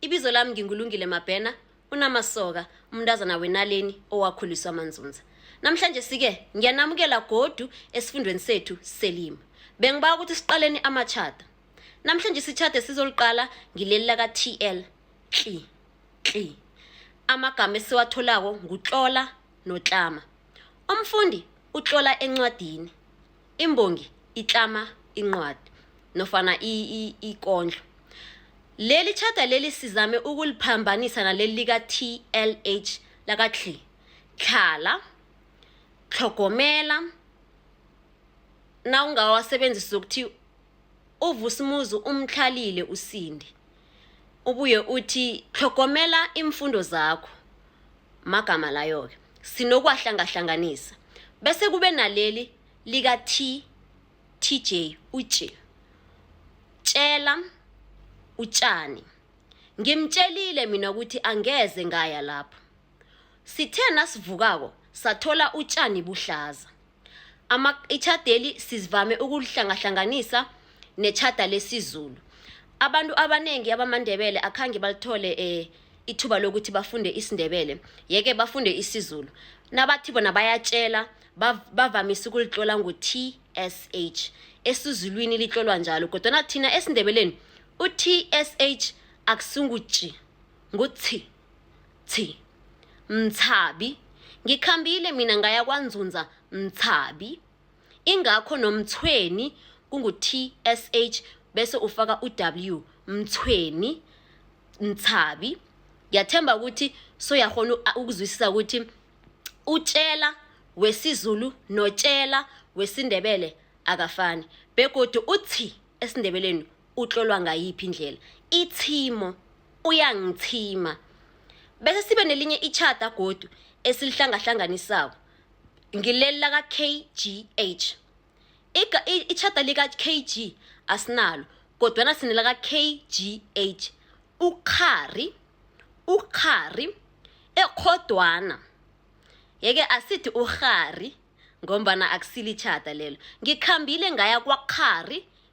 Ibizo lami nginguLungile Mabhena, unamasoka, umntazana wenaleni owakhuliswa amanzunza. Namhlanje sike ngiyanamukela godu esifundweni sethu selimi. Bengiba ukuthi siqaleni amatjhada. Namhlanje isitjhada sizoliqala ngileli laka TL. Kli. Kli. Amagama esiwatholako ngutlola notlama. Umfundi utlola encwadini. imbongi itlama incwadi nofana ikondlo leli tjhada leli sizame ukuliphambanisa naleli lika-tlh lakathli tlhala tlhogomela nawungawasebenzisa ukuthi uVusimuzi umtlhalile uSindi. Ubuye uthi tlhogomela iimfundo zakho. Magama layo-ke. Sinokuwahlangahlanganisa. Bese kube naleli lika-T, TJ, utje. Tjela utjani. Ngimtjelile mina ukuthi angeze ngaya lapho. Sithe nasivukako sathola utjani buhlaza. Ama itjhadeli sizivame ukulihlangahlanganisa netjhada lesizulu. Abantu abanengi abamaNdebele akhange balithole eh ithuba lokuthi bafunde isiNdebele, yeke bafunde isiZulu. Nabathi bona bayatjela bav- bavamise ukulitlola ngo-TSH. EsiZulwini litlolwa njalo kodwana thina esiNdebeleni u-TSH akusingu-J, ngu-T. Thi, Mthabi, ngikhambile mina ngaya kwanzunza Mthabi. Ingakho nomthweni kungu-TSH bese ufaka u-W Mthweni Mthabi. Ngiyathemba ukuthi soyakghona ukuzwisisa ukuthi utshela wesiZulu notshela wesiNdebele akafani begodu uthi esiNdebeleni utlolwa ngayiphi indlela ithimo uyangithima bese sibe nelinye itjhada godu esilihlangahlanganisako ngileli laka-kgh itjhada lika-kg asinalo kodwana sinelaka-kgh ukghari ukghari ekhodwana yeke asithi urhari ngombana akusilitjhada lelo ngikhambile ngaya kwakghari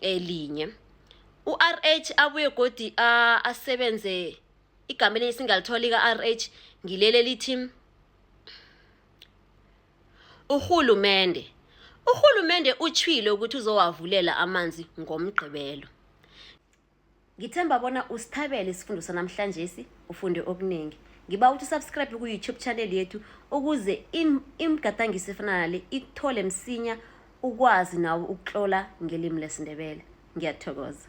elinye u-rh abuye godi asebenze igama elinye singalithola ika-rh ngileli elithi urhulumende urhulumende utshwile ukuthi uzowavulela amanzi ngomgqibelo ngithemba bona usithabele isifundo sanamhlanjesi ufunde okuningi ngiba ukuthi usubscribe ku-youtube channel yethu ukuze imigadangiso efana nale ikuthole msinya ukwazi nawo ukuhlola ngelimi lesindebele ngiyathokoza